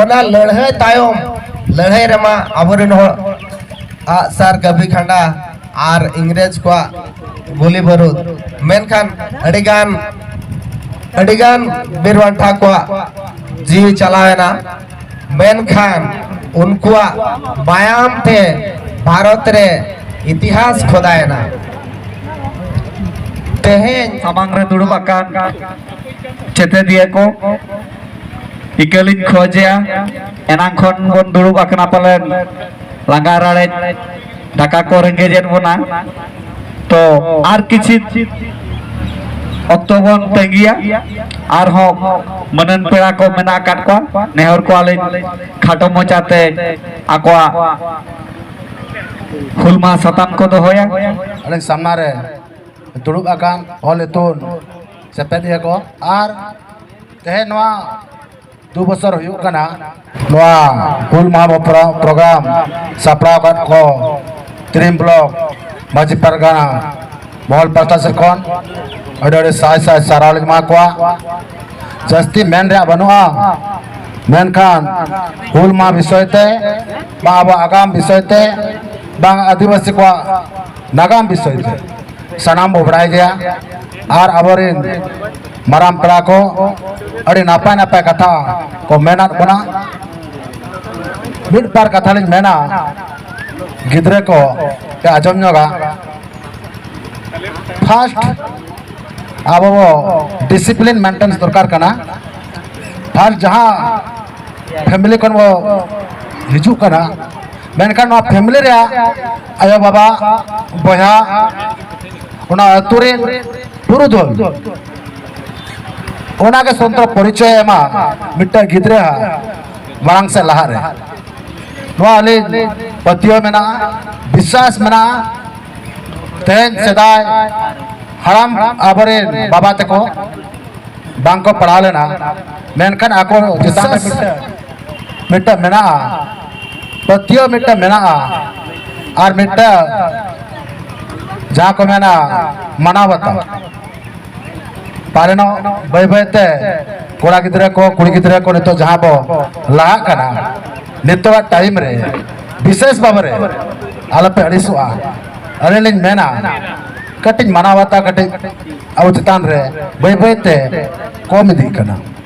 ᱚᱱᱟ ᱞᱟᱹᱲᱦᱟᱹᱭ ᱛᱟᱭᱚᱢ ᱞᱟᱹᱲᱦᱟᱹᱭ ᱨᱮᱢᱟ ᱟᱵᱚᱨᱮᱱ ᱦᱚᱲ ᱟᱜ ᱥᱟᱨ ᱜᱟᱹᱵᱷᱤ ᱠᱷᱟᱸᱰᱟ ᱟᱨ ᱤᱝᱨᱮᱡᱽ ᱠᱚᱣᱟᱜ ᱜᱩᱞᱤ ᱵᱟᱹᱨᱩᱫ ᱢᱮᱱᱠᱷᱟᱱ ᱟᱹᱰᱤᱜᱟᱱ ᱟᱹᱰᱤᱜᱟᱱ ᱵᱤᱨ ᱵᱟᱱᱴᱟ ᱠᱚᱣᱟᱜ ᱡᱤᱣᱤ ᱪᱟᱞᱟᱣᱮᱱᱟ ᱢᱮᱱᱠᱷᱟᱱ ᱩᱱᱠᱩᱣᱟᱜ ᱢᱟᱭᱟᱢ ᱛᱮ ᱵᱷᱟᱨᱚᱛ ᱨᱮ ᱤᱛᱤᱦᱟᱥ ᱠᱷᱚᱫᱟᱭᱮᱱᱟ ᱛᱮᱦᱮᱧ ᱥᱟᱢᱟᱝ ᱨᱮ ᱫᱩᱲᱩᱵ ᱟᱠᱟᱱ ᱪᱮᱛᱮᱫᱤᱭᱟᱹ ᱠᱚ ᱤᱠᱟᱹᱞᱤᱧ ᱠᱷᱚᱡᱮᱭᱟ ᱮᱱᱟᱝ ᱠᱷᱚᱱ ᱵᱚᱱ ᱫᱩᱲᱩᱵ ᱟᱠᱟᱱᱟ ᱯᱟᱞᱮᱱ ᱞᱟᱸᱜᱟ ᱨᱟᱲᱮᱡ ᱫᱟᱠᱟ ᱠᱚ ᱨᱮᱸᱜᱮᱡᱮᱫ ᱵᱚᱱᱟ ᱛᱚ ᱟᱨ ᱠᱤᱪᱷᱤ ᱚᱠᱛᱚ ᱵᱚᱱ ᱛᱟᱺᱜᱤᱭᱟ ᱟᱨᱦᱚᱸ ᱢᱟᱹᱱᱟᱱ ᱯᱮᱲᱟ ᱠᱚ ᱢᱮᱱᱟᱜ ᱟᱠᱟᱫ ᱠᱚᱣᱟ ᱱᱮᱦᱚᱨ ᱠᱚᱣᱟᱞᱤᱧ ᱠᱷᱟᱴᱚ ᱢᱚᱪᱟᱛᱮ ᱟᱠᱚᱣᱟᱜ ᱦᱩᱞ ᱢᱟᱦᱟ ᱥᱟᱛᱟᱢ ᱠᱚ ᱫᱚᱦᱚᱭᱟ ᱟᱞᱮ ᱥᱟᱢᱱᱟ ᱨᱮ ᱫᱩᱲᱩᱵ ᱟᱠᱟᱱ ᱚᱞ ᱤᱛᱩᱱ ᱥᱮᱯᱮᱫ ᱮᱫᱟ ᱠᱚ ᱟᱨ ᱛᱮᱦᱮᱧ ᱱᱚᱣᱟ ᱫᱩ ᱵᱚᱪᱷᱚᱨ ᱦᱩᱭᱩᱜ ᱠᱟᱱᱟ ᱱᱚᱣᱟ ᱦᱩᱞ ᱢᱟᱦᱟ ᱯᱨᱳᱜᱨᱟᱢ ᱥᱟᱯᱲᱟᱣ ᱟᱠᱟᱫ ᱠᱚ ᱛᱤᱨᱤᱢ ᱵᱞᱚᱠ ᱢᱟᱹᱡᱷᱤ ᱯᱟᱨᱜᱟᱱᱟ ᱢᱚᱦᱚᱞ ᱯᱟᱦᱴᱟ ᱥᱮᱫ ᱠᱷᱚᱱ ᱟᱹᱰᱤ ᱟᱹᱰᱤ ᱥᱟᱭ ᱥᱟᱭ ᱥᱟᱨᱦᱟᱣ ᱞᱤᱧ ᱮᱢᱟ ᱠᱚᱣᱟ ᱡᱟᱹᱥᱛᱤ ᱢᱮᱱ ᱨᱮᱭᱟᱜ ᱵᱟᱹᱱᱩᱜᱼᱟ ᱢᱮᱱᱠᱷᱟᱱ ᱦᱩᱞ ᱢᱟᱦᱟ ᱵᱤᱥᱚᱭ ᱛᱮ ᱵᱟᱝ ᱟᱵᱚᱣᱟᱜ ᱟᱜᱟᱢ ᱵᱤᱥᱚᱭ ᱛᱮ ᱵᱟᱝ ᱟᱹᱫᱤᱵᱟᱹᱥᱤ ᱠᱚᱣᱟᱜ ᱱᱟᱜᱟᱢ ᱵᱤᱥᱚᱭ ᱛᱮ ᱥᱟᱱᱟᱢ ᱵᱚ ᱵᱟᱲᱟᱭ ᱜᱮᱭᱟ ᱟᱨ ᱟᱵᱚᱨᱮᱱ ᱢᱟᱨᱟᱝ ᱯᱮᱲᱟ ᱠᱚ ᱟᱹᱰᱤ ᱱᱟᱯᱟᱭ ᱱᱟᱯᱟᱭ ᱠᱟᱛᱷᱟ ᱠᱚ ᱢᱮᱱᱟᱫ ᱵᱚᱱᱟ ᱢᱤᱫ ᱵᱟᱨ ᱠᱟᱛᱷᱟ ᱞᱤᱧ ᱢᱮᱱᱟ ᱜᱤᱫᱽᱨᱟᱹ ᱠᱚ ᱟᱸᱡᱚᱢ ᱧᱚᱜᱟ ᱯᱷᱟᱥᱴ ᱟᱵᱚ ᱵᱚ ᱰᱤᱥᱤᱯᱞᱤᱱ ᱢᱮᱱᱴᱮᱱᱥ ᱫᱚᱨᱠᱟᱨ ᱠᱟᱱᱟ ᱯᱷᱟᱥᱴ ᱡᱟᱦᱟᱸ ᱯᱷᱮᱢᱤᱞᱤ ᱠᱷᱚᱱ ᱵᱚ ᱦᱤᱡᱩᱜ ᱠᱟᱱᱟ ᱢᱮᱱᱠᱷᱟᱱ ᱱᱚᱣᱟ ᱯᱷᱮᱢᱤᱞᱤ ᱨᱮᱭᱟᱜ ᱟᱭᱳ ᱵᱟᱵᱟ ᱵᱚᱭᱦᱟ ᱚᱱᱟ ᱟᱹᱛᱩ ᱨᱮ ᱯᱩᱨᱩᱫᱷᱩᱞ ᱚᱱᱟᱜᱮ ᱥᱚᱱᱛᱚᱨ ᱯᱚᱨᱤᱪᱚᱭ ᱮᱢᱟ ᱢᱤᱫᱴᱟᱝ ᱜᱤᱫᱽᱨᱟᱹ ᱢᱟᱲᱟᱝ ᱥᱮ ᱞᱟᱦᱟ ᱨᱮ ᱱᱚᱣᱟ ᱟᱹᱞᱤᱧ ᱯᱟᱹᱛᱭᱟᱹᱣ ᱢᱮᱱᱟᱜᱼᱟ ᱵᱤᱥᱣᱟᱥ ᱢᱮᱱᱟᱜᱼᱟ ᱛᱮᱦᱮᱧ ᱥᱮᱫᱟᱭ ᱦᱟᱲᱟᱢ ᱟᱵᱚᱨᱮᱱ ᱵᱟᱵᱟ ᱛᱮᱠᱚ ᱵᱟᱝᱠᱚ ᱯᱟᱲᱦᱟᱣ ᱞᱮᱱᱟ ᱢᱮᱱᱠᱷᱟᱱ ᱟᱠᱚ ᱪᱮᱛᱟᱱ ᱨᱮ ᱢᱤᱫᱴᱟᱝ ᱢᱮᱱᱟᱜᱼᱟ ᱯᱟᱹᱛᱭᱟᱹᱣ ᱢᱤᱫᱴᱟᱝ ᱢᱮᱱᱟᱜᱼᱟ ᱟᱨ ᱢᱤᱫᱴᱟᱝ ᱡᱟᱦᱟᱸ ᱠᱚ ᱢᱮᱱᱟ ᱢᱟᱱᱟᱣ ᱵᱟᱛᱟᱣ ᱯᱟᱨᱮᱱᱚᱜ ᱵᱟᱹᱭ ᱵᱟᱹᱭᱛᱮ ᱠᱚᱲᱟ ᱜᱤᱫᱽᱨᱟᱹ ᱠᱚ ᱠᱩᱲᱤ ᱜᱤᱫᱽᱨᱟᱹ ᱠᱚ ᱱᱤᱛᱚᱜ ᱡᱟᱦᱟᱸ ᱵᱚ ᱞᱟᱦᱟᱜ ᱠᱟᱱᱟ ᱱᱤᱛᱚᱜᱟᱜ ᱴᱟᱭᱤᱢ ᱨᱮ ᱵᱤᱥᱮᱥ ᱵᱷᱟᱵᱮ ᱨᱮ ᱟᱞᱚᱯᱮ ᱟᱹᱲᱤᱥᱚᱜᱼᱟ ᱟᱹᱞᱤᱧ ᱞᱤᱧ ᱢᱮᱱᱟ ᱠᱟᱹᱴᱤᱡ ᱢᱟᱱᱟᱣ ᱵᱟᱛᱟᱣ ᱠᱟᱹᱴᱤᱡ ᱟᱵᱚ ᱪᱮᱛᱟᱱ ᱨᱮ ᱵᱟᱹᱭ ᱵᱟᱹᱭᱛᱮ ᱠᱚᱢ ᱤᱫᱤᱜ ᱠᱟᱱᱟ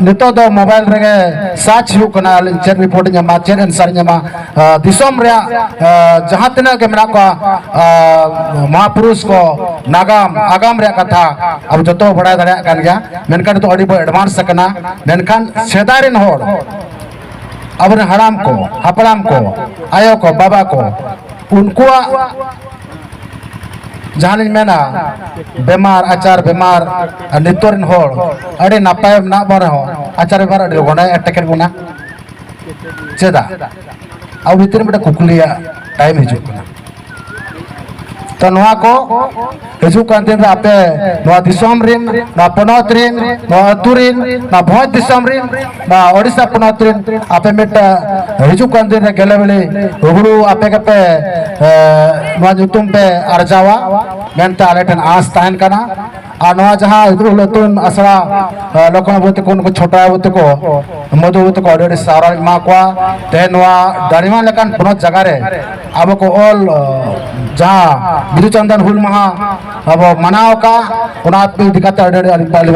ᱱᱤᱛᱚᱜ ᱫᱚ ᱢᱳᱵᱟᱭᱤᱞ ᱨᱮᱜᱮ ᱥᱟᱨᱪ ᱦᱩᱭᱩᱜ ᱠᱟᱱᱟ ᱟᱹᱞᱤᱧ ᱪᱮᱫ ᱨᱤᱯᱳᱨᱴ ᱤᱧ ᱧᱟᱢᱟ ᱪᱮᱫ ᱮᱱᱥᱟᱨ ᱤᱧ ᱧᱟᱢᱟ ᱫᱤᱥᱚᱢ ᱨᱮᱭᱟᱜ ᱡᱟᱦᱟᱸ ᱛᱤᱱᱟᱹᱜ ᱜᱮ ᱢᱮᱱᱟᱜ ᱠᱚᱣᱟ ᱢᱚᱦᱟᱯᱩᱨᱩᱥ ᱠᱚ ᱱᱟᱜᱟᱢ ᱟᱜᱟᱢ ᱨᱮᱭᱟᱜ ᱠᱟᱛᱷᱟ ᱟᱵᱚ ᱡᱚᱛᱚ ᱵᱟᱲᱟᱭ ᱫᱟᱲᱮᱭᱟᱜ ᱠᱟᱱ ᱜᱮᱭᱟ ᱢᱮᱱᱠᱷᱟᱱ ᱱᱤᱛᱚᱜ ᱟᱹᱰᱤ ᱵᱚ ᱮᱰᱵᱷᱟᱱᱥ ᱟᱠᱟᱱᱟ ᱢᱮᱱᱠᱷᱟᱱ ᱥᱮᱫᱟᱭ ᱨᱮᱱ ᱦᱚᱲ ᱟᱵᱚᱨᱮᱱ ᱦᱟᱲᱟᱢ ᱠᱚ ᱦᱟᱯᱲᱟᱢ ᱠᱚ ᱟᱭᱳ ᱠᱚ ᱵᱟᱵᱟ ᱠᱚ ᱩᱱᱠᱩᱣᱟᱜ ᱡᱟᱦᱟᱸ ᱞᱤᱧ ᱢᱮᱱᱟ ᱵᱮᱢᱟᱨ ᱟᱪᱟᱨ ᱵᱮᱢᱟᱨ ᱱᱤᱛᱚᱜ ᱨᱮᱱ ᱦᱚᱲ ᱟᱹᱰᱤ ᱱᱟᱯᱟᱭ ᱢᱮᱱᱟᱜ ᱵᱚᱱ ᱨᱮᱦᱚᱸ ᱟᱪᱟᱨ ᱵᱮᱢᱟᱨ ᱟᱹᱰᱤ ᱞᱚᱜᱚᱱᱮ ᱮᱴᱮᱠᱮᱫ ᱵᱚᱱᱟ ᱪᱮᱫᱟᱜ ᱟᱵᱚ ᱵᱷᱤᱛᱤᱨ ᱨᱮ ᱢᱤᱫᱴᱟᱝ ᱠᱩᱠᱞᱤᱭᱟᱜ ᱴᱟᱭᱤᱢ ᱦᱤᱡᱩᱜ ᱠᱟᱱᱟ ᱛᱚ ᱱᱚᱣᱟ ᱠᱚ ᱦᱤᱡᱩᱜ ᱠᱟᱱ ᱫᱤᱱ ᱨᱮ ᱟᱯᱮ ᱱᱚᱣᱟ ᱫᱤᱥᱚᱢ ᱨᱮᱱ ᱱᱚᱣᱟ ᱯᱚᱱᱚᱛ ᱨᱮᱱ ᱱᱚᱣᱟ ᱟᱹᱛᱩ ᱨᱮᱱ ᱱᱚᱣᱟ ᱵᱷᱚᱸᱡᱽ ᱫᱤᱥᱚᱢ ᱨᱮᱱ ᱱᱚᱣᱟ ᱳᱰᱤᱥᱟ ᱯᱚᱱᱚᱛ ᱨᱮᱱ ᱟᱯᱮ ᱢᱤᱫᱴᱟᱝ ᱦᱤᱡᱩᱜ ᱠᱟᱱ ᱫᱤᱱ ᱨᱮ ᱜᱮᱞᱮᱵᱮᱞᱮ ᱦᱩᱲᱩ ᱟᱯᱮ ᱜᱮᱯᱮ ᱱᱚᱣᱟ ᱧᱩᱛᱩᱢ ᱯᱮ ᱟᱨᱡᱟᱣᱟ ᱢᱮᱱᱛᱮ ᱟᱞᱮ ᱴᱷᱮᱱ ᱟᱸᱥ ᱛᱟᱦᱮᱱ ᱠᱟᱱᱟ ᱟᱨ ᱱᱚᱣᱟ ᱡᱟᱦᱟᱸ ᱦᱤᱫᱨᱩ ᱞᱟᱹᱛᱩᱱ ᱟᱥᱲᱟ ᱞᱚᱠᱷᱚᱱ ᱵᱟᱹᱵᱩ ᱛᱟᱠᱚ ᱱᱩᱠᱩ ᱪᱷᱳᱴᱟ ᱵᱟᱹᱵᱩ ᱛᱟᱠᱚ ᱢᱚᱫᱷᱩ ᱵᱟᱹᱵᱩ ᱛᱟᱠᱚ ᱟᱹᱰᱤ ᱟᱹᱰᱤ ᱥᱟᱨᱦᱟᱣ ᱮᱢᱟ ᱠᱚᱣᱟ ᱛᱮᱦᱮᱧ ᱱᱚᱣᱟ ᱫᱟᱲᱤᱢᱟ ᱞᱮᱠᱟᱱ ᱯᱚᱱᱚᱛ ᱡᱟᱭᱜᱟ ᱨᱮ ᱟᱵᱚ ᱠᱚ ᱚᱞ ᱡᱟᱦᱟᱸ ᱵᱤᱫᱩ ᱪᱟᱱᱫᱟᱱ ᱦᱩᱞ ᱢᱟᱦᱟ ᱟᱵᱚ ᱢᱟᱱᱟᱣ ᱟᱠᱟᱫ ᱚᱱᱟ ᱤᱫᱤ ᱠᱟᱛᱮ ᱟᱹᱰᱤ ᱟᱹᱰᱤ ᱟᱹᱰᱤ ᱟᱹᱰᱤ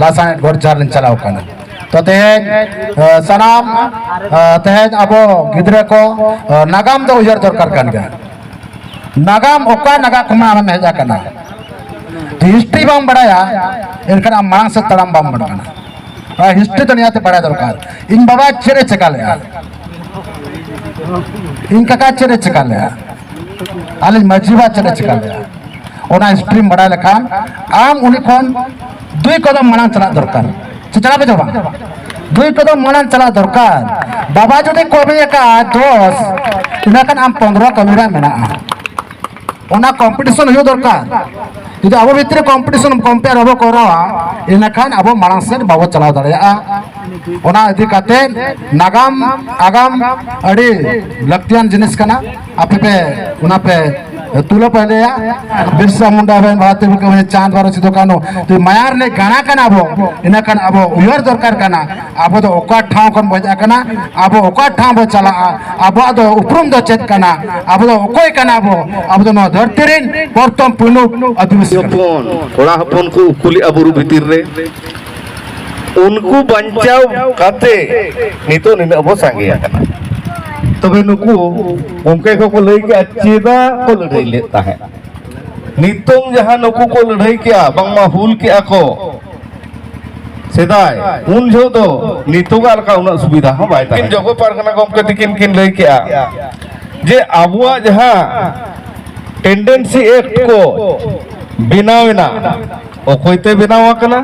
ᱞᱟᱥᱟᱬᱦᱮᱫ ᱜᱚᱰᱪᱟᱨ ᱞᱤᱧ ᱪᱟᱞᱟᱣ ᱠᱟᱱᱟ ᱛᱚ ᱛᱮᱦᱮᱧ ᱥᱟᱱᱟᱢ ᱛᱮᱦᱮᱧ ᱟᱵᱚ ᱜᱤᱫᱽᱨᱟᱹ ᱠᱚ ᱱᱟᱜᱟᱢ ᱫᱚ ᱩᱭᱦᱟᱹᱨ ᱫᱚᱨᱠᱟᱨ ᱠᱟᱱ ᱜᱮᱭᱟ ᱱᱟᱜᱟᱢ ᱚᱠᱟ ᱱᱟᱜᱟᱢ ᱠᱷᱚᱱᱟᱜ ᱟᱢᱮᱢ ᱦᱮᱡ ᱟᱠᱟᱱᱟ ᱦᱤᱥᱴᱨᱤ ᱵᱟᱢ ᱵᱟᱲᱟᱭᱟ ᱮᱱᱠᱷᱟᱱ ᱟᱢ ᱢᱟᱲᱟᱝ ᱥᱮᱫ ᱛᱟᱲᱟᱢ ᱵᱟᱢ ᱵᱟᱲᱟᱭ ᱠᱟᱱᱟ ᱟᱨ ᱦᱤᱥᱴᱨᱤ ᱫᱚ ᱱᱤᱭᱟᱹᱛᱮ ᱵᱟᱲᱟᱭ ᱫᱚᱨᱠᱟᱨ ᱤᱧ ᱵᱟᱵᱟ ᱪᱮᱫ ᱮ ᱪᱮᱠᱟ ᱞᱮᱫᱼᱟ ᱤᱧ ᱠᱟᱠᱟ ᱪᱮᱫ ᱮ ᱪᱮᱠᱟ ᱞᱮᱫᱼᱟ ᱟᱹᱞᱤᱧ ᱢᱟᱺᱡᱷᱤ ᱵᱟ ᱪᱮᱫ ᱮ ᱪᱮᱠᱟ ᱞᱮᱫᱼᱟ ᱚᱱᱟ ᱥᱴᱨᱤᱢ ᱵᱟᱲᱟᱭ ᱞᱮᱠᱷᱟᱱ ᱟᱢ ᱩᱱᱤ ᱠᱷᱚᱱ ᱫᱩᱭ ᱠᱚᱫᱚᱢ ᱢᱟᱲᱟᱝ ᱪᱟᱞᱟᱜ ᱫᱚᱨᱠᱟর ᱥᱮ ᱪᱟᱞᱟᱜ ᱯᱮ ᱵᱟᱝ ᱫᱩᱭ ᱠᱚᱫᱚᱢ ᱢᱟᱲᱟᱝ ᱪᱟᱞᱟᱜ ᱫᱚᱨᱠᱟর ᱵᱟᱵᱟ ᱡᱩᱫᱤ ᱠᱟᱹᱢᱤ ᱟᱠᱟᱫ ᱫᱚᱥ ᱤᱱᱟᱹ ᱠᱷᱟᱱ ᱟᱢ ᱯᱚᱱᱨᱚ ᱠᱟᱹᱢᱤ ᱨᱮ ᱢᱮᱱᱟᱜᱼᱟ ᱚᱱᱟ ᱠᱚᱢᱯᱤᱴᱤᱥᱚᱱ ᱦᱩᱭᱩᱜ ᱫᱚᱨᱠᱟর ᱡᱩᱫᱤ ᱟᱵᱚ ᱵᱷᱤᱛᱨᱤ ᱠᱚᱢᱯᱤᱴᱤᱥᱚᱱ ᱠᱚᱢᱯᱮᱭᱟᱨ ᱵᱟᱵᱚ ᱠᱚᱨᱟᱣᱟ ᱤᱱᱟᱹ ᱠᱷᱟᱱ ᱟᱵᱚ ᱢᱟᱲᱟᱝ ᱥᱮᱫ ᱵᱟᱵᱚ ᱪᱟᱞᱟᱣ ᱫᱟᱲᱮᱭᱟᱜᱼᱟ ᱚᱱᱟ ᱤᱫᱤ ᱠᱟᱛᱮ ᱱᱟᱜᱟᱢ ᱟᱜᱟᱢ ᱟᱹᱰᱤ ᱞᱟᱹᱠᱛᱤᱭᱟᱱ ᱡᱤᱱᱤᱥ ᱠᱟᱱᱟ ᱟᱯᱮ ᱯᱮ ᱚᱱᱟ ᱯᱮ ᱛᱩᱞᱟᱹ ᱯᱟᱸᱡᱟᱭᱟ ᱵᱤᱨᱥᱟ ᱢᱩᱱᱰᱟ ᱨᱮᱱ ᱵᱷᱟᱨᱚᱛ ᱨᱮ ᱪᱟᱸᱫ ᱵᱟᱨᱚ ᱥᱤᱫᱩ ᱠᱟᱹᱱᱩ ᱢᱟᱭᱟᱨ ᱨᱮ ᱜᱟᱬᱟ ᱠᱟᱱᱟ ᱟᱵᱚ ᱤᱱᱟᱹ ᱠᱷᱟᱱ ᱟᱵᱚ ᱩᱭᱦᱟᱹᱨ ᱫᱚᱨᱠᱟᱨ ᱠᱟᱱᱟ ᱟᱵᱚ ᱫᱚ ᱚᱠᱟ ᱴᱷᱟᱶ ᱠᱷᱚᱱ ᱵᱚᱱ ᱦᱮᱡ ᱟᱠᱟᱱᱟ ᱟᱵᱚ ᱚᱠᱟ ᱴᱷᱟᱶ ᱵᱚ ᱪᱟᱞᱟᱜᱼᱟ ᱟᱵᱚᱣᱟᱜ ᱫᱚ ᱩᱯᱨᱩᱢ ᱫᱚ ᱪᱮᱫ ᱠᱟᱱᱟ ᱟᱵᱚ ᱫᱚ ᱚᱠᱚᱭ ᱠᱟᱱᱟ ᱟᱵᱚ ᱟᱵᱚ ᱫᱚ ᱱᱚᱣᱟ ᱫᱷᱟᱹᱨᱛᱤ ᱨᱮᱱ ᱯᱨᱚᱛᱷᱚᱢ ᱯᱩᱭᱞᱩ ᱟᱹᱫᱤᱵᱟᱹᱥᱤ ᱦᱚᱯᱚᱱ ᱠᱚᱲᱟ ᱦᱚᱯᱚᱱ ᱠᱚ ᱩᱠᱩᱞᱮᱜᱼᱟ ᱵᱩᱨᱩ ᱵᱷᱤᱛᱤᱨ ᱨᱮ ᱩᱱᱠᱩ ᱵᱟᱧᱪᱟᱣ ᱠᱟᱛᱮ ᱱᱤᱛᱚᱜ ᱱᱤᱱᱟᱹᱜ ᱵᱚ ᱥᱟᱸᱜᱮ ᱟᱠᱟᱱᱟ ᱛᱚᱵᱮ ᱱᱩᱠᱩ ᱜᱚᱢᱠᱮ ᱠᱚᱠᱚ ᱞᱟᱹᱭ ᱠᱮᱜᱼᱟ ᱪᱮᱫᱟᱜ ᱠᱚ ᱞᱟᱹᱲᱦᱟᱹᱭ ᱞᱮᱫ ᱛᱟᱦᱮᱸᱫ ᱱᱤᱛᱚᱝ ᱡᱟᱦᱟᱸ ᱱᱩᱠᱩ ᱠᱚ ᱞᱟᱹᱲᱦᱟᱹᱭ ᱠᱮᱜᱼᱟ ᱵᱟᱝᱢᱟ ᱦᱩᱞ ᱠᱮᱜᱼᱟ ᱠᱚ ᱥᱮᱫᱟᱭ ᱩᱱ ᱡᱚᱦᱚᱜ ᱫᱚ ᱱᱤᱛᱚᱜᱟᱜ ᱞᱮᱠᱟ ᱩᱱᱟᱹᱜ ᱥᱩᱵᱤᱫᱷᱟ ᱦᱚᱸ ᱵᱟᱭ ᱛᱟᱦᱮᱸ ᱡᱚᱜᱚ ᱯᱟᱨᱜᱟᱱᱟ ᱜᱚᱢᱠᱮ ᱛᱤᱠᱤᱱ ᱠᱤᱱ ᱞᱟᱹᱭ ᱠᱮᱜᱼᱟ ᱡᱮ ᱟᱵᱚᱣᱟᱜ ᱡᱟᱦᱟᱸ ᱴᱮᱱᱰᱮᱱᱥᱤ ᱮᱠᱴ ᱠᱚ ᱵᱮᱱᱟᱣ ᱮᱱᱟ ᱚᱠᱚᱭ ᱛᱮ ᱵᱮᱱᱟᱣ ᱟᱠᱟᱱᱟ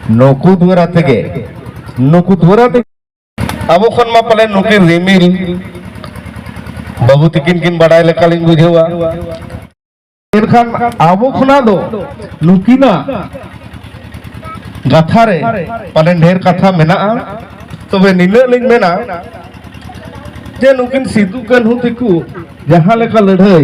ᱱᱩᱠᱩ ᱫᱩᱣᱟᱨᱟ ᱛᱮᱜᱮ ᱱᱩᱠᱩ ᱫᱩᱣᱟᱨᱟ ᱛᱮᱜᱮ ᱟᱵᱚ ᱠᱷᱚᱱ ᱢᱟ ᱯᱟᱞᱮ ᱱᱩᱠᱤᱱ ᱨᱤᱢᱤᱞ ᱵᱟᱹᱵᱩ ᱛᱤᱠᱤᱱ ᱠᱤᱱ ᱵᱟᱰᱟᱭ ᱞᱮᱠᱟᱞᱤᱧ ᱵᱩᱡᱷᱟᱹᱣᱟ ᱮᱱᱠᱷᱟᱱ ᱟᱵᱚ ᱠᱷᱚᱱᱟᱜ ᱫᱚ ᱱᱩᱠᱤᱱᱟᱜ ᱠᱟᱛᱷᱟ ᱨᱮ ᱯᱟᱞᱮᱱ ᱰᱷᱮᱨ ᱠᱟᱛᱷᱟ ᱢᱮᱱᱟᱜᱼᱟ ᱛᱚᱵᱮ ᱱᱤᱱᱟᱹᱜ ᱞᱤᱧ ᱢᱮᱱᱟ ᱡᱮ ᱱᱩᱠᱤᱱ ᱥᱤᱫᱩ ᱠᱟᱹᱱᱦᱩ ᱛᱮᱠᱚ ᱡᱟᱦᱟᱸ ᱞᱮᱠᱟ ᱞᱟᱹᱲᱦᱟᱹᱭ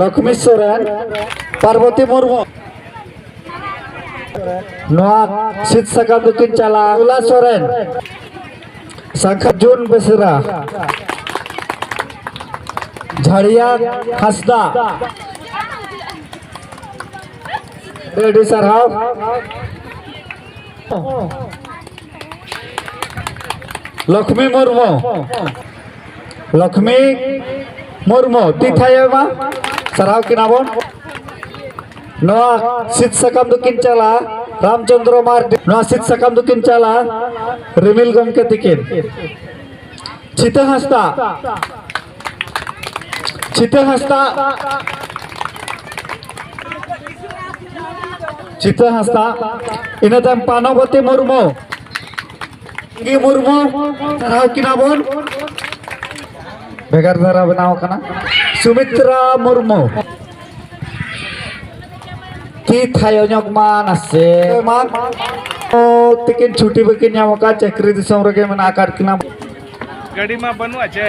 ᱞᱚᱠᱷᱢᱤ ᱥᱚᱨᱮᱱ ᱯᱟᱨᱵᱚᱛᱤ ᱢᱩᱨᱢᱩ ᱱᱚᱣᱟ ᱥᱤᱫ ᱥᱟᱠᱟᱢ ᱫᱚᱠᱤᱱ ᱪᱟᱞᱟᱜᱼᱟ ᱩᱞᱟ ᱥᱚᱨᱮᱱ ᱥᱟᱠᱷᱟ ᱡᱩᱱ ᱵᱮᱥᱨᱟ ᱡᱷᱟᱲᱤᱭᱟ ᱦᱟᱸᱥᱫᱟ ᱟᱹᱰᱤ ᱥᱟᱨᱦᱟᱣ ᱞᱚᱠᱷᱢᱤ ᱢᱩᱨᱢᱩ ᱞᱚᱠᱷᱢᱤ ᱢᱩᱨᱢᱩ ᱛᱤ ᱛᱷᱟᱭᱚᱭ ᱢᱟ ᱥᱟᱨᱦᱟᱣ ᱠᱤᱱᱟ ᱵᱚᱱ ᱱᱚᱣᱟ ᱥᱤᱫ ᱥᱟᱠᱟᱢ ᱫᱚᱠᱤᱱ ᱪᱟᱞᱟᱜᱼᱟ ᱨᱟᱢᱪᱚᱱᱫᱨᱚ ᱢᱟᱨᱰᱤ ᱱᱚᱣᱟ ᱥᱤᱫ ᱥᱟᱠᱟᱢ ᱫᱚᱠᱤᱱ ᱪᱟᱞᱟᱜᱼᱟ ᱨᱤᱢᱤᱞ ᱜᱚᱢᱠᱮ ᱛᱤᱠᱤᱱ ᱪᱷᱤᱛᱟᱹ ᱦᱟᱸᱥᱫᱟ ᱪᱷᱤᱛᱟᱹ ᱦᱟᱸᱥᱫᱟ ᱪᱤᱛᱟᱹ ᱦᱟᱸᱥᱫᱟ ᱤᱱᱟᱹ ᱛᱟᱭᱚᱢ ᱯᱟᱱᱚᱵᱚᱛᱤ ᱢᱩᱨᱢᱩ ᱜᱮ ᱢᱩᱨᱢᱩ ᱥᱟᱨᱦᱟᱣ ᱠᱤᱱᱟ ᱵᱚᱱ ᱵᱷᱮᱜᱟᱨ ᱫᱷᱟᱨᱟ ᱵᱮᱱᱟᱣ ᱠᱟᱱᱟ ᱥᱩᱢᱤᱛᱨᱟ ᱢᱩᱨᱢᱩ ᱛᱤ ᱛᱷᱟᱭᱚ ᱧᱚᱜ ᱢᱟ ᱱᱟᱥᱮ ᱢᱟ ᱛᱤᱠᱤᱱ ᱪᱷᱩᱴᱤ ᱵᱟᱹᱠᱤᱱ ᱧᱟᱢ ᱟᱠᱟᱫ ᱪᱟᱹᱠᱨᱤ ᱫᱤᱥᱚᱢ ᱨᱮᱜᱮ ᱢᱮᱱᱟᱜ ᱟᱠᱟᱫ ᱠᱤᱱᱟ ᱜᱟᱹᱰᱤ ᱢᱟ ᱵᱟᱹᱱᱩᱜᱼᱟ ᱪᱮ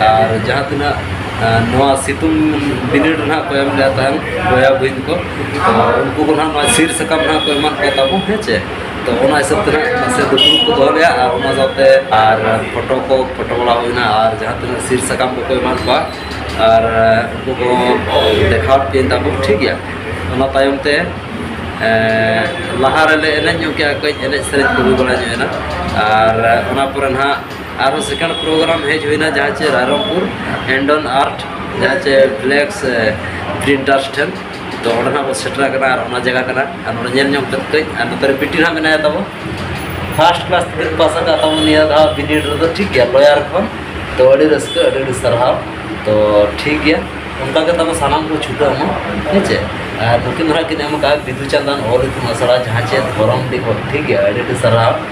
ᱟᱨ ᱡᱟᱦᱟᱸ ᱛᱤᱱᱟᱹᱜ ᱱᱚᱣᱟ ᱥᱤᱛᱩᱝ ᱵᱤᱱᱤᱰ ᱨᱮ ᱱᱟᱦᱟᱜ ᱠᱚ ᱮᱢ ᱞᱮᱫ ᱛᱟᱦᱮᱱ ᱵᱚᱭᱦᱟ ᱵᱩᱦᱤᱱ ᱠᱚ ᱩᱱᱠᱩ ᱠᱚ ᱱᱟᱦᱟᱜ ᱱᱚᱣᱟ ᱥᱤᱫ ᱥᱟᱠᱟᱢ ᱱᱟᱦᱟᱜ ᱠᱚ ᱮᱢᱟᱜ ᱠᱚ ᱛᱟᱵᱚᱱ ᱦᱮᱸ ᱪᱮ ᱛᱚ ᱚᱱᱟ ᱦᱤᱥᱟᱹᱵ ᱛᱮ ᱱᱟᱦᱟᱜ ᱱᱟᱥᱮ ᱫᱩᱯᱲᱩᱵ ᱠᱚ ᱫᱚᱦᱚ ᱞᱮᱫᱼᱟ ᱟᱨ ᱚᱱᱟ ᱥᱟᱶᱛᱮ ᱟᱨ ᱯᱷᱳᱴᱳ ᱠᱚ ᱯᱷᱳᱴᱳ ᱵᱟᱲᱟ ᱦᱩᱭᱱᱟ ᱟᱨ ᱡᱟᱦᱟᱸ ᱛᱤᱱᱟᱹᱜ ᱥᱤᱫ ᱥᱟᱠᱟᱢ ᱠᱚᱠᱚ ᱮᱢᱟᱫ ᱠᱚᱣᱟ ᱟᱨ ᱩᱱᱠᱩ ᱠᱚ ᱫᱮᱠᱷᱟᱣᱟᱫ ᱠᱤᱱ ᱛᱟᱵᱚᱱ ᱴᱷᱤᱠ ᱜᱮᱭᱟ ᱚᱱᱟ ᱛᱟᱭᱚᱢ ᱛᱮ ᱞᱟᱦᱟ ᱨᱮᱞᱮ ᱮᱱᱮᱡ ᱧᱚᱜ ᱠᱮᱫᱼᱟ ᱠᱟᱹᱡ ᱮᱱᱮᱡ ᱥᱮᱨᱮᱧ ᱠᱚ ᱦᱩᱭ ᱵᱟᱲᱟ ᱧᱚᱜ ᱮᱱᱟ ᱟᱨ ᱚᱱᱟ ᱯᱚᱨᱮ ᱱᱟᱦᱟᱜ ᱟᱨᱚ ᱥᱮᱠᱮᱱᱰ ᱯᱨᱳᱜᱨᱟᱢ ᱦᱮᱡ ᱦᱩᱭᱱᱟ ᱡᱟᱦᱟᱸ ᱪᱮ ᱨᱟᱭᱨᱚᱝᱯᱩᱨ ᱦᱮᱱᱰᱚᱱ ᱟᱨᱴ ᱡᱟᱦᱟᱸ ᱪᱮ ᱵᱞᱮᱠᱥ ᱯᱨᱤᱱᱴᱟᱨᱥ ᱴᱷᱮᱱ ᱛᱚ ᱚᱸᱰᱮ ᱱᱟᱜ ᱵᱚ ᱥᱮᱴᱮᱨ ᱟᱠᱟᱱᱟ ᱟᱨ ᱚᱱᱟ ᱡᱟᱭᱜᱟ ᱠᱟᱱᱟ ᱟᱨ ᱱᱚᱰᱮ ᱧᱮᱞ ᱧᱚᱜ ᱠᱟᱛᱮ ᱠᱟᱹᱡ ᱟᱨ ᱱᱚᱛᱮ ᱨᱮ ᱵᱤᱴᱤ ᱱᱟᱜ ᱢᱮᱱᱟᱭᱟ ᱛᱟᱵᱚ ᱯᱷᱟᱥᱴ ᱠᱞᱟᱥ ᱛᱮᱵᱤᱱ ᱯᱟᱥ ᱟᱠᱟᱫ ᱛᱟᱵᱚ ᱱᱤᱭᱟᱹ ᱫᱷᱟᱣ ᱵᱤᱱᱤᱰ ᱨᱮᱫᱚ ᱴᱷᱤᱠ ᱜᱮᱭᱟ ᱞᱚᱭᱟᱨ ᱠᱷᱚᱱ ᱛᱚ ᱟᱹᱰᱤ ᱨᱟᱹᱥᱠᱟᱹ ᱟᱹᱰᱤ ᱟᱹᱰᱤ ᱥᱟᱨᱦᱟᱣ ᱛᱚ ᱴᱷᱤᱠ ᱜᱮᱭᱟ ᱚᱱᱠᱟ ᱜᱮ ᱛᱟᱵᱚ ᱥᱟᱱᱟᱢ ᱠᱚ ᱪᱷᱩᱴᱟᱹᱣ ᱢᱟ ᱦᱮᱸ ᱪᱮ ᱟᱨ ᱱᱩᱠᱤᱱ ᱫᱚ ᱱᱟᱜ ᱠᱤᱱ ᱮᱢ ᱟᱠᱟᱫᱼᱟ ᱵᱤᱫᱩ ᱪᱟᱸᱫᱟᱱ ᱚᱞ ᱤᱛᱩᱱ ᱟᱥᱲᱟ ᱡᱟᱦᱟᱸ ᱪᱮ ᱫᱷᱚᱨᱚᱢᱰᱤ ᱠᱷᱚᱱ ᱴᱷᱤᱠ ᱜᱮᱭᱟ ᱟᱹᱰᱤ ᱟᱹᱰᱤ ᱥᱟᱨᱦᱟᱣ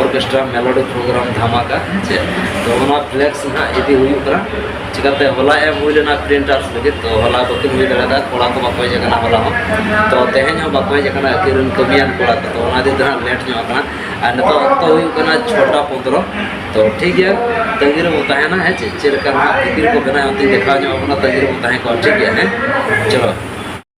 ᱚᱨᱠᱮᱥᱴᱨᱟ ᱢᱮᱞᱳᱰᱤ ᱯᱨᱳᱜᱨᱟᱢ ᱫᱷᱟᱢᱟᱠᱟ ᱦᱮᱸᱥᱮ ᱛᱚ ᱚᱱᱟ ᱯᱷᱞᱮᱠᱥ ᱱᱟᱦᱟᱜ ᱤᱫᱤ ᱦᱩᱭᱩᱜ ᱠᱟᱱᱟ ᱪᱤᱠᱟᱛᱮ ᱦᱚᱞᱟ ᱮᱢ ᱦᱩᱭ ᱞᱮᱱᱟ ᱯᱨᱤᱱᱴᱟᱨ ᱞᱟᱹᱜᱤᱫ ᱛᱚ ᱦᱚᱞᱟ ᱵᱟᱹᱠᱤᱱ ᱦᱩᱭ ᱫᱟᱲᱮᱭᱟᱫᱟ ᱠᱚᱲᱟ ᱠᱚ ᱵᱟᱠᱚ ᱦᱮᱡ ᱟᱠᱟᱱᱟ ᱦᱚᱞᱟ ᱦᱚᱸ ᱛᱚ ᱛᱮᱦᱮᱧ ᱦᱚᱸ ᱵᱟᱠᱚ ᱦᱮᱡ ᱟᱠᱟᱱᱟ ᱟᱹᱠᱤᱱ ᱨᱮᱱ ᱠᱟᱹᱢᱤᱭᱟᱱ ᱠᱚᱲᱟ ᱠᱚ ᱛᱚ ᱚᱱᱟ ᱤᱫᱤ ᱛᱮ ᱱᱟᱦᱟᱜ ᱞᱮᱴ ᱧᱚᱜ ᱟᱠᱟᱱᱟ ᱟᱨ ᱱᱤᱛᱚᱜ ᱚᱠᱛᱚ ᱦᱩᱭᱩᱜ ᱠᱟᱱᱟ ᱪᱷᱚᱴᱟ ᱯᱚᱸᱫᱽᱨᱚ ᱛᱚ ᱴᱷᱤᱠ ᱜᱮᱭᱟ ᱛᱟᱹᱜᱤ ᱨᱮᱵᱚ ᱛᱟᱦᱮᱱᱟ ᱦᱮᱸ ᱪᱮ ᱪᱮᱫ ᱞᱮᱠᱟ ᱱᱟᱦᱟᱜ ᱛᱤᱠᱤᱱ ᱠᱚ ᱵᱮᱱᱟᱣ ᱚᱱᱛᱮ ᱫᱮᱠᱷᱟᱣ ᱧᱚᱜ ᱟᱵᱚᱱᱟ ᱛᱟᱹᱜᱤ ᱨᱮᱵᱚ ᱛᱟᱦᱮᱸ ᱠᱚᱜᱼᱟ ᱴᱷᱤᱠ ᱜᱮᱭᱟ ᱦᱮᱸ ᱪᱚᱞᱚ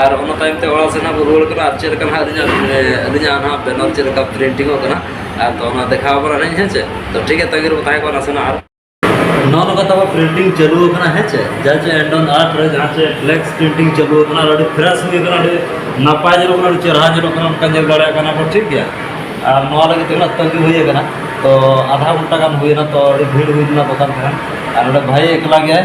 ᱟᱨ ᱚᱱᱟ ᱛᱟᱭᱚᱢ ᱛᱮ ᱚᱲᱟᱜ ᱥᱮᱫ ᱦᱟᱸᱜ ᱵᱚᱱ ᱨᱩᱣᱟᱹᱲ ᱠᱟᱱᱟ ᱟᱨ ᱪᱮᱫ ᱞᱮᱠᱟ ᱦᱟᱸᱜ ᱟᱹᱞᱤᱧᱟᱜ ᱟᱹᱞᱤᱧᱟᱜ ᱱᱟᱦᱟᱜ ᱵᱮᱱᱟᱨ ᱪᱮᱫ ᱞᱮᱠᱟ ᱯᱨᱤᱱᱴᱤᱝ ᱚᱜ ᱠᱟᱱᱟ ᱟᱨ ᱛᱚ ᱚᱱᱟ ᱫᱮᱠᱷᱟᱣ ᱟᱵᱚᱱᱟ ᱞᱤᱧ ᱦᱮᱸ ᱪᱮ ᱛᱚ ᱴᱷᱤᱠ ᱜᱮᱭᱟ ᱛᱟᱺᱜᱤ ᱨᱮᱵᱚ ᱛᱟᱦᱮᱸ ᱠᱚᱜᱼᱟ ᱱᱟᱥᱮᱱᱟᱜ ᱟᱨ ᱱᱚᱜᱼᱚ ᱱᱚᱝᱠᱟ ᱛᱟᱵᱚ ᱯᱨᱤᱱᱴᱤᱝ ᱪᱟᱹᱞᱩ ᱟᱠᱟᱱᱟ ᱦᱮᱸ ᱪᱮ ᱡᱟᱦᱟᱸ ᱪᱮ ᱮᱱᱰᱚᱱ ᱟᱨᱴ ᱨᱮ ᱡᱟᱦᱟᱸ ᱪᱮ ᱯᱷᱞᱮᱠᱥ ᱯᱨᱤᱱᱴᱤᱝ ᱪᱟᱹᱞᱩ ᱟᱠᱟᱱᱟ ᱟᱨ ᱟᱹᱰᱤ ᱯᱷᱨᱮᱥ ᱦᱩᱭ ᱟᱠᱟᱱᱟ ᱟᱹᱰᱤ ᱱᱟᱯᱟᱭ ᱧᱮᱞᱚᱜ ᱠᱟᱱᱟ ᱟᱹᱰᱤ ᱪᱮᱦᱨᱟ ᱧᱮᱞᱚᱜ ᱠᱟᱱᱟ ᱚᱱᱠᱟ ᱧᱮᱞ ᱫᱟᱲᱮᱭᱟᱜ ᱠᱟᱱᱟ ᱵᱚ ᱴᱷᱤᱠ ᱜᱮᱭᱟ ᱟᱨ ᱱᱚᱣᱟ ᱞᱟᱹᱜᱤᱫ ᱛᱤᱱᱟᱹᱜ ᱛᱟᱺᱜᱤ ᱦᱩᱭ ᱟᱠᱟᱱᱟ ᱛᱚ ᱟᱫᱷᱟ ᱜᱷᱚᱱᱴᱟ ᱜᱟᱱ ᱦᱩᱭᱮᱱᱟ ᱛᱚ ᱟᱹᱰᱤ ᱵᱷᱤᱲ ᱦᱩᱭ ᱞᱮᱱᱟ ᱫᱚᱠᱟᱱ ᱨᱮ ᱟᱨ ᱱᱚᱰᱮ ᱵᱷᱟᱹᱭ ᱮᱠᱞᱟ ᱜᱮᱭᱟᱭ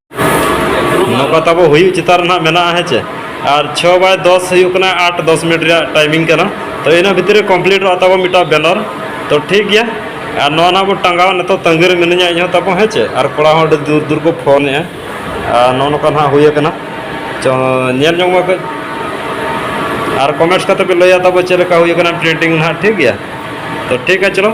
ᱱᱚᱝᱠᱟ ᱛᱟᱵᱚ ᱦᱩᱭᱩᱜ ᱪᱮᱛᱟᱱ ᱨᱮ ᱱᱟᱦᱟᱜ ᱢᱮᱱᱟᱜᱼᱟ ᱦᱮᱸ ᱪᱮ ᱟᱨ ᱪᱷᱚ ᱵᱟᱭ ᱫᱚᱥ ᱦᱩᱭᱩᱜ ᱠᱟᱱᱟ ᱟᱴ ᱫᱚᱥ ᱢᱤᱱᱤᱴ ᱨᱮᱭᱟᱜ ᱴᱟᱭᱢᱤᱝ ᱠᱟᱱᱟ ᱛᱚ ᱤᱱᱟᱹ ᱵᱷᱤᱛᱤᱨ ᱨᱮ ᱠᱚᱢᱯᱞᱤᱴᱚᱜᱼᱟ ᱛᱟᱵᱚ ᱢᱤᱫᱴᱟᱝ ᱵᱮᱱᱟᱨ ᱛᱚ ᱴᱷᱤᱠ ᱜᱮᱭᱟ ᱟᱨ ᱱᱚᱣᱟ ᱱᱟᱦᱟᱜ ᱵᱚ ᱴᱟᱸᱜᱟᱣ ᱱᱤᱛᱚᱜ ᱛᱟᱺᱜᱤ ᱨᱮ ᱢᱤᱱᱟᱹᱧᱟ ᱤᱧ ᱦᱚᱸ ᱛᱟᱵᱚ ᱦᱮᱸ ᱪᱮ ᱟᱨ ᱠᱚᱲᱟ ᱦᱚᱸ ᱟᱹᱰᱤ ᱫᱩᱨ ᱫᱩᱨ ᱠᱚ ᱯᱷᱳᱱᱮᱜᱼᱟ ᱟᱨ ᱱᱚᱜᱼᱚ ᱱᱚᱝᱠᱟ ᱱᱟᱦᱟᱜ ᱦᱩᱭ ᱟᱠᱟᱱᱟ ᱪᱚ ᱧᱮᱞ ᱧᱚᱜᱽ ᱢᱮ ᱠᱟᱹᱡ ᱟᱨ ᱠᱚᱢᱮᱱᱴᱥ ᱠᱟᱛᱮ ᱯᱮ ᱞᱟᱹᱭᱟ ᱛᱟᱵᱚ ᱪᱮᱫ ᱞᱮᱠᱟ ᱦᱩᱭ ᱟᱠᱟᱱᱟ ᱯᱨᱤᱱᱴᱤᱝ ᱱᱟᱦᱟᱜ ᱴᱷᱤᱠ ᱜᱮᱭᱟ ᱛᱚ ᱴᱷᱤᱠ ᱜᱮᱭᱟ ᱪᱚᱞᱚ